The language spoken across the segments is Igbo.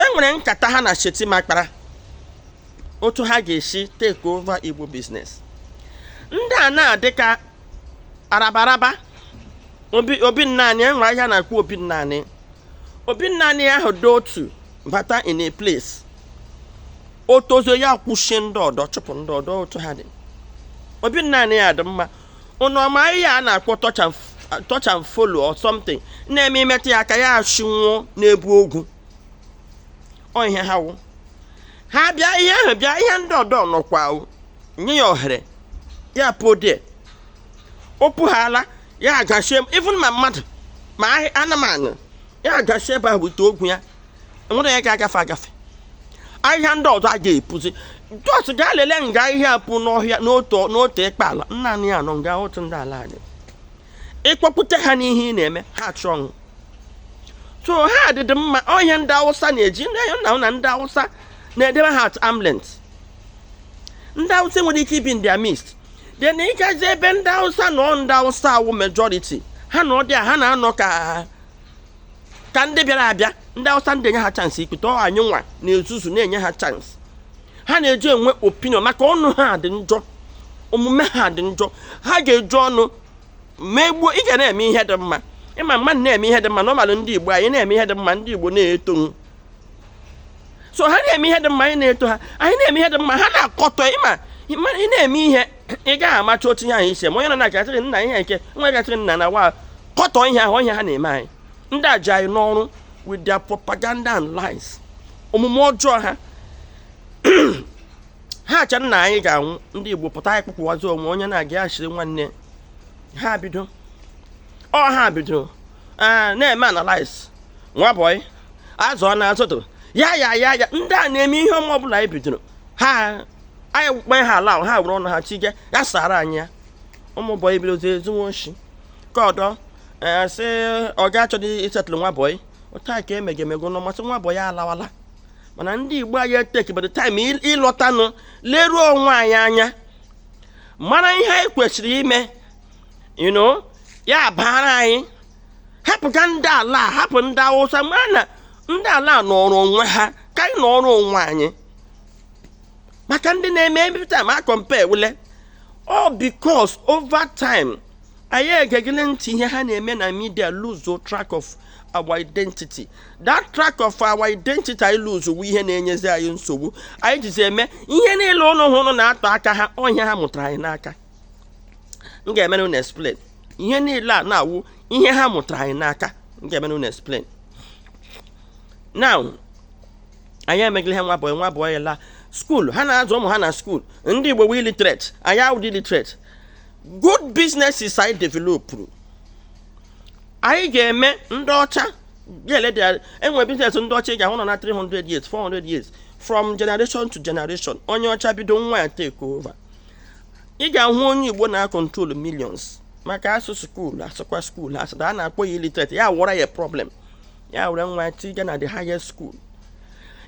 e nwere nkata ha na Shettima kpara otu ha ga-esi take over Igbo business ndị a na-adị ka arabaraba obi naanị enwe ahịhịa na-akpọ obi naanị obi naanị ahụ dị otu bata in a place o tozuo ya akwụchie ndị ọdọ chụpụ ndị ọdọ otu ha dị obi naanị ya dị mma ụnụ ọ ma ahịhịa a na-akpọ touch and follow or something na-eme imetụ ya aka ya ashịnwụọ na-ebu ogwu ọ ihe ha wụ ha bịa ihe ahụ bịa ihe ndị ọdọ nọkwa wụ nye ya ohere ya puo there o puhaala ya agachi even ma mmadụ ma anụmanụ ya agachi ebe ahụ bute ogwu ya enwere ya ga-agafe agafe ahịhịa ndị ọdọ a ga-epuzi just gaa lelee nga ahịhịa pu n'ọhịa n'otu ịkpa ala naanị ya nọ nga otu ndị ala anyị ịkpọpụta ha n'ihe ị na-eme ha achịnwụọ so ha adịdị mma ọ ihe ndị awụsa na-eji na na ndị awụsa na-edebe ha at arm's length ndị awụsa nwere ike ibi in their midst then ị gazi ebe ndị awụsa nọ ndị awụsa awụ majority ha nọọ there ha na-anọ ka ka ndị bịara abịa ndị awụsa ndị enye ha chance ikpeta ọ anyị nwa na-ezuzu na-enye ha chance ha na-eji enwe opinion maka ọnụ ha dị njọ omume ha dị njọ ha ga-eji ọnụ megbuo ị ga na-eme ihe dị mma ị ma mmadụ na-eme ihe dị mma normally ndị igbo anyị na-eme ihe dị mma ndị igbo na-eto so ha na-eme ihe dị mma anyị na-eto ha anyị na-eme ihe dị mma ha na-akọtọ ịma ị na-eme ihe ị gaghị amacha otu ihe ahụ ise ma onye nọ na-agachịrị nna ihe nke nwa gachịrị nna na wa kọtọ ihe ahụ ihe ha na-eme anyị ndị a ji anyị n'oru with their propaganda and lies omume ọjọọ ha ha acha na anyị ga-anwụ ndị Igbo pụta anyị kpụpụwazi onwe onye na-aga ashịrị nwanne ha bido ọ ha bido ah, na-eme analyze nwa bọyị azụ ọ na-azụtụ ya ya ya ya ndị a na-eme ihe ọma ọbụla anyị bidoro ha anyị kpee ha ala ha were ọnụ ha chike ya sara anyị ya ụmụ bọyị bidozi ezinwe oshi ka ọdọ e, sị ọga achọghị i-settle nwa bọyị otu a ka emege emego nọ masị nwa bọyị alawala mana ndị igbo anyị eteki by the time ịlọtanụ leruo onwe anyị anya mara ihe anyị kwesịrị ime you know ya baara anyị hapụ ka ndị ala hapụ ndị awụsa mana ndị ala nọrọ onwe ha ka anyị nọrọ onwe anyị maka ndị na-eme every time a compare wule all because over time anyị egegele ntị ihe ha na-eme na media lose track of our identity that track of our identity anyị lose wụ ihe na-enyezi anyị nsogbu anyị jizi eme ihe niile unu hụrụ na-atọ aka ha ọ ihe ha mụtara anyị n'aka m ga-emere unu explain ihe niile a na-awụ ihe ha mụtara anyị n'aka m ga-emere unu explain now anyị emegịla ihe nwa bọyị nwa ọ bụla skuul ha na-azụ ụmụ ha na skuul ndị igbo wụ illiterate anyị awụdị illiterate good businesses anyị developụrụ anyị ga-eme ndị ọcha ga-ele dị enwe biznes ndị ọcha ị ga-ahụ nọ na 300 years 400 years from generation to generation onye ọcha bido nwa ya take over ị ga-ahụ onye igbo na-akọntrol millions maka a sị skuul a sịkwa skuul a sị a na-akpọ ya illiterate ya wụra ya problem ya were nwa ya tiga na the highest school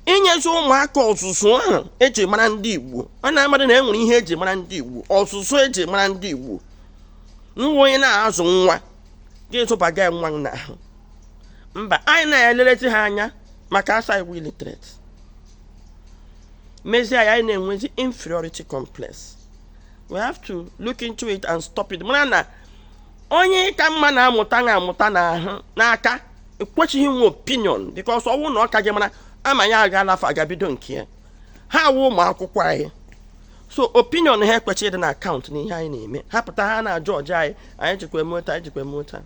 enyezi ụmụaka ọzụzụ ahụ eji mara ndị igbo unu amadị na e nwere ihe eji mara ndị igbo ọzụzụ eji mara ndị igbo nwa onye na-azụ nwa ga-azụbaga nwa n'ahụ mba anyị na-elelizi ha anya maka a sị anyị wụ illiterate mezie anyị na-enwezi inferiority complex we have to look into it and stop it mara na onye ị ka mma na-amụta na amụta n'ahụ n'aka ekwechighị inwe opinion because ọ wụ na ọ ka gị mara ama ya aga n'afọ aga bido nke ya ha wụ ụmụ akwụkwọ anyị so opinion ha ekwechidị na-akaụntụ na ihe anyị na-eme ha pụta ha na-ajọọjụ anyị anyị jikwa eme otu anyị jikwa eme otu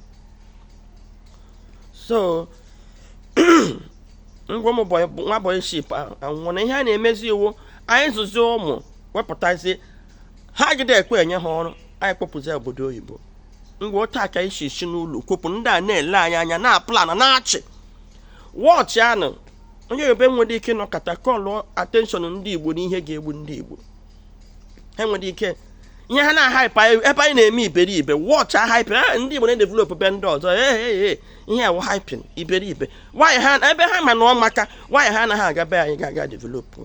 so nwa bọyị ship anwụọna ihe a na-emezi wụ anyị zụzi ụmụ wepụtazie ha agide ekwe enye ha ọrụ anyị kpọpụzi obodo oyibo ngwa otu aka isi isi n'ụlọ kwepụ ndị a na-ele anyị anya na plan na-achị wọchị anụ onye yoruba enwedị ike nọkọta kọlụ atenshọn ndị igbo na ihe ga-egbu ndị igbo ha enwedị ike ihe ha na-ahaịpụ ebe anyị na-eme iberibe wọchị ahaịpịn a ah, ndị igbo na-edevelopụ be ndị ọzọ ee eh, eh, ihe a wụ haịpịn iberibe why ha ebe ha ma na ọ amaka why ha anaghị aga be anyị ga developụ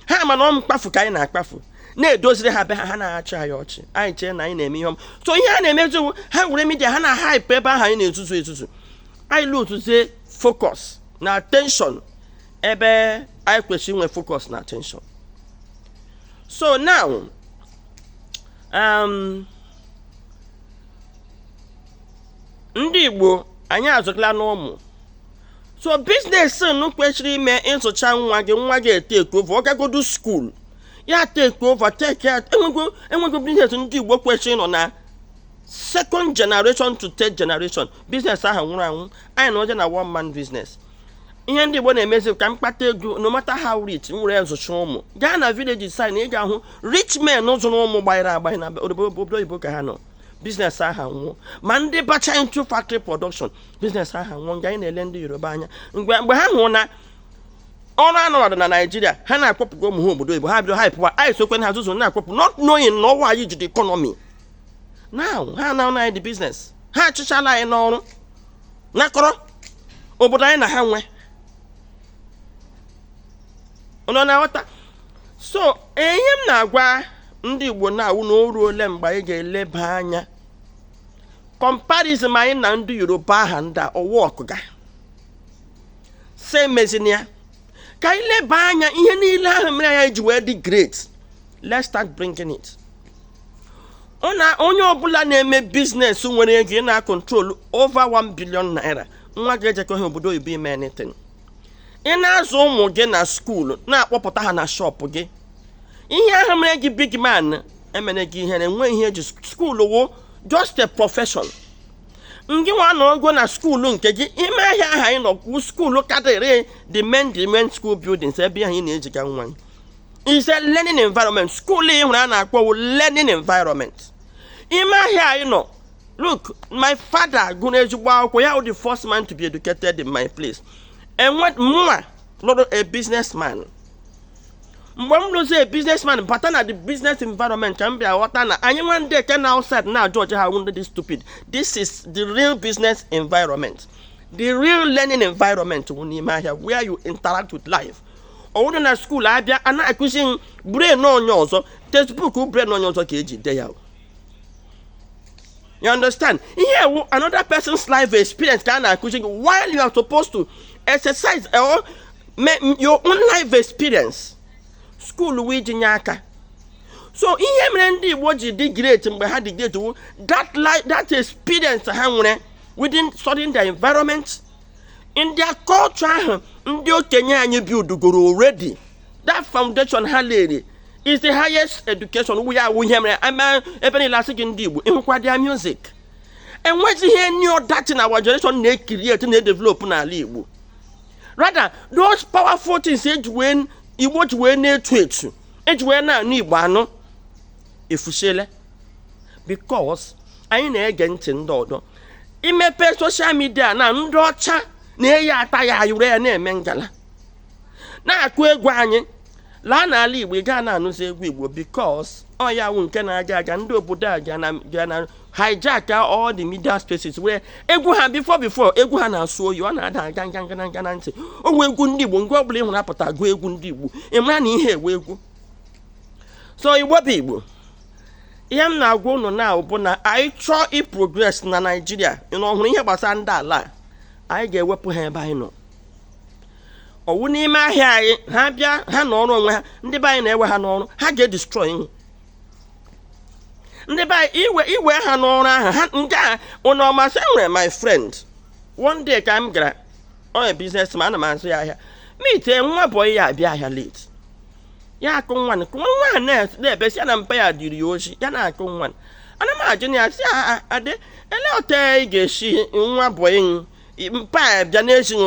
ha ma na ọ mkpafu ka anyị na-akpafu na-edoziri ha be ha ha na-achị anyị ọchị anyị chee na anyị na-eme ihe ọma so ihe ha na-emezi wụ ha were midia ha na-ahaịpụ ebe ahụ anyị na-ezuzu ezuzu anyị luuzuzie focus na attention ebe anyị kwesịrị inwe focus na attention so now um, ndị Igbo anyị azụtala n'ụmụ so business nu kwesịrị ime ị zụcha nwa gị nwa gị etake over ọ gagodu school ya take over take ya enwego business ndị igbo kwesịrị nọ na second generation to third generation business ahụ nwụrụ anwụ anyị nọzi na one man business ihe ndị igbo na-emezi ka m kpata ego no matter how rich m were ya zụcha ụmụ gaa na villages ị ga-ahụ rich men zụrụ ụmụ gbanyere agbanye na obodo oyibo ka ha nọ business aha anwụọ ma ndị bacha into factory production business aha anwụọ nga anyị na-ele ndị yoruba anya mgbe ha hụrụ na ọrụ anaghị adị na naijiria ha na-akpọpụgo ụmụ ha obodo oyibo ha bido hapụwa anyị sokwa na-ezuzu na-akpọpụ not knowing na ọ wụ anyị ji the economy now ha na-ana anyị the business ha achịchala anyị n'ọrụ nakọrọ obodo anyị na ha nwe ị na-aghọta so ihe m na-agwa ndị igbo na-awụ na o ruole mgbe anyị ga-eleba anya comparison anyị na ndị yoruba aha ndị ọwa ọkụga sị emezina ya ka anyị leba anya ihe niile ahụ mere anyị ji wee dị great let's start bringing it onye ọbụla na-eme biznes nwere ego ị na-acontrol over 1 billion naira nwa gị ejekọghị obodo oyibo ime anything ị na-azụ ụmụ gị na school na-akpọpụta ha na shop gị ihe ahụ mere gị big man emere gị ihere enwe ihe e ji school wụ just a profession ngị nwa nọgo na school nke gị ime ahịa aha anyị nọ wụ school karịrị the main the main school buildings ebe ahụ ị na-ejiga nwa gị is a learning environment school ị hụrụ a na-akpọ wụ learning environment ime ahịa anyị nọ look my father gụrụ ezigbo akwụkwọ ya the first man to be educated in my place and mụnwa lụrụ a businessman mgbe m lụzi a businessman bata na the business environment ka m bịa ghọta na anyị nwa ndị nke nọ outside na-ajudge ha wụ ndị dị stupid this is the real business environment the real learning environment wụ n'ime ahịa where you interact with life ọ wụrụ na school a bịa a na-akụzi m brain onye ọzọ textbook brain onye ọzọ ka e ji de ya o. You understand? Here, another person's life experience can accusing you while you are supposed to exercise or your own life experience. School we jinyaka. So ihe mere ndị Igbo ji dị great mgbe ha dị great wu that life that experience ha nwere within studying their environment in their culture ahụ ndị okenye anyị buildgoro already that foundation ha layiri is the highest education ọ wụ ya wụ ihe mere ama ebe niile a sị gị ndị Igbo ị hụkwa their music enwezighị any other thing our generation na-ecreate na-edevelop n'ala Igbo rather those powerful things eji wee Igbo ji wee na-etu etu eji wee na-anụ Igbo anụ efusiele because anyị na-ege ntị ndị ọdọ i mepe social media na ndị ọcha na-eyi attire e yiri ya na-eme ngala na-akụ egwu anyị laa n'ala igbo ị gaa na-anụzi egwu igbo because ọ ya wụ nke na-aga aga ndị obodo a ga na- ga na hijack all the media spaces wee egwu ha before before egwu ha na-asụ oyi ọ na-ada aga nga nga nga na ntị ọ wụ egwu ndị igbo nwa ọbụla ị hụrụ pụta gụọ egwu ndị igbo ị mara na ihe a wụ egwu so igbo bụ igbo ihe m na-agwa unu na bụ na anyị chọọ iprogress na naijiria na ọhụrụ ihe gbasara ndị ala anyị ga-ewepụ ha ebe anyị nọ ọwụ n'ime ahịa anyị ha bịa ha na ọrụ onwe ha ndị be anyị na-ewe ha n'ọrụ ha ga-edestroy ihe ndị be anyị iwe ha n'ọrụ ahụ ha nke a ụnụ ọmasị e nwere my friend one day ka m gara onye businessman ana m azụ ya ahịa meet nwa bọyị ya abịa ahịa late ya akụ nwa kụ nwa a na-ebesi ya na mpa ya ziri ya ozi ya na-akụ nwa ana m ajụ na ya sị adị ele otu ị ga-esi nwa bọyị mpa ya bịa na-ezi ya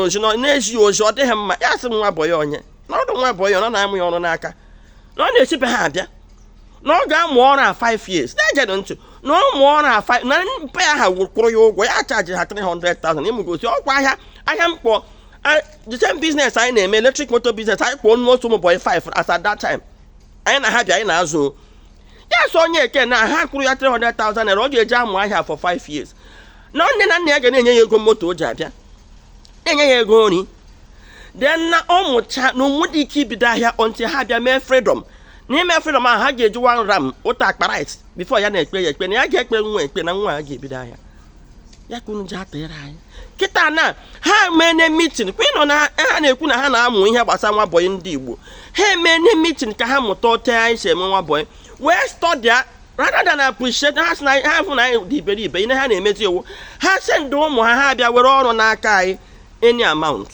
ozi ọ dịghị mma ya sị nwa bọyị onye na ọdụ nwa bọyị ọ na-amụ ya ọrụ n'aka na ọ na-esi be ha abịa na ọ ga-amụ ọrụ a 5 years na-egenụ ntị na ọ mụọ ọrụ a 5 na mpa ya ha kwụrụ ya ụgwọ ya chaji ha 300,000 ịmụgosi ọkwa ahịa ahịa mkpọ a- the same business anyị na-eme electric motor business anyị kpọọ nnu otu ụmụ boy 5 as at that time anyị na ha bịa anyị na-azụ o. ya so onye eke na ha kwụrụ ya 300,000 naira ọ ga-eji amụ ahịa for 5 years na nne na nna ya ga na-enye ya ego moto o ji abịa na-enye ya ego nri then na ọ mụcha na o nwedị ike ibido ahịa until ha bịa mee freedom n'ime freedom ahụ ha ga-eji one ram otu akpa rice before ya na-ekpe ya ekpe na ya ga-ekpe nwa ekpe na nwa a ga-ebido ahịa ya ka unu ji atịrị anyị kịta na ha emene meeting kwa ị nụ na ha na-ekwu na ha na-amụ ihe gbasara nwa bọyị ndị igbo ha emene meeting ka ha mụta otu anyị si eme nwa bọyị wee study ya rather than appreciate ha sị na ha fụ na anyị dị iberibe ihe ha na-emezi wụ ha send ụmụ ha ha bịa were ọrụ n'aka anyị any amount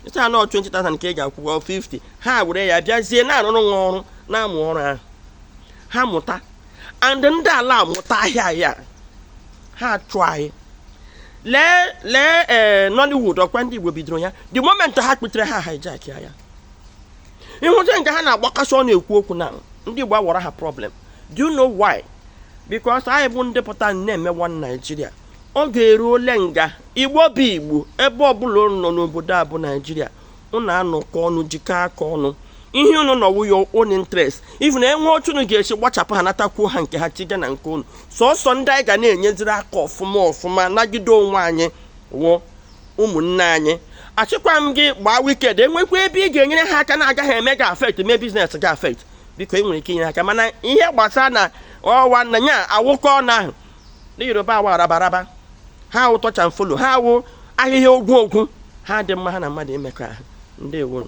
ị sị ha na ọ 20,000 ka ị ga-akwụ 50 ha were ya bịazie na-arụrụ nwa ọrụ na-amụ ọrụ ahụ ha mụta and ndị ala mụta ahịa a ha chụọ anyị lee lee ee eh, Nollywood ọkwa ndị Igbo bidoro ya the moment ha kputere ha hijack ya ị hụta nke ha na-agbakasị ọ na-ekwu okwu na ndị Igbo awụrụ ha problem do you know why? because anyị bụ ndị pụta na-eme one Nigeria oge eruole nga igbo bụ igbo ebe ọbụla unu nọ n'obodo a bụ naijiria unu anọkọ ọnụ jikọ aka ọnụ ihe unu nọ wụ your own interest even e nwee otu unu ga-esi gbachapụ ha natakwuo ha nke ha chiga na nke unu sọsọ ndị anyị ga na-enyeziri aka ọfụma ọfụma nagide onwe anyị wụ ụmụnne anyị asịkwa m gị gbaa wicked e nwekwaa ebe ị ga-enyere ha aka na-agaghị eme gị affect mee business gị affect biko ị nwere ike inyere aka mana ihe gbasara na ọwa na ya awụkọ ọnụ ahụ ndị yoruba awa arabaraba ha wụ touch and follow ha wụ ahịhịa ogwu ogwu ha dị mma ha na mmadụ imekọ ahụ ndewo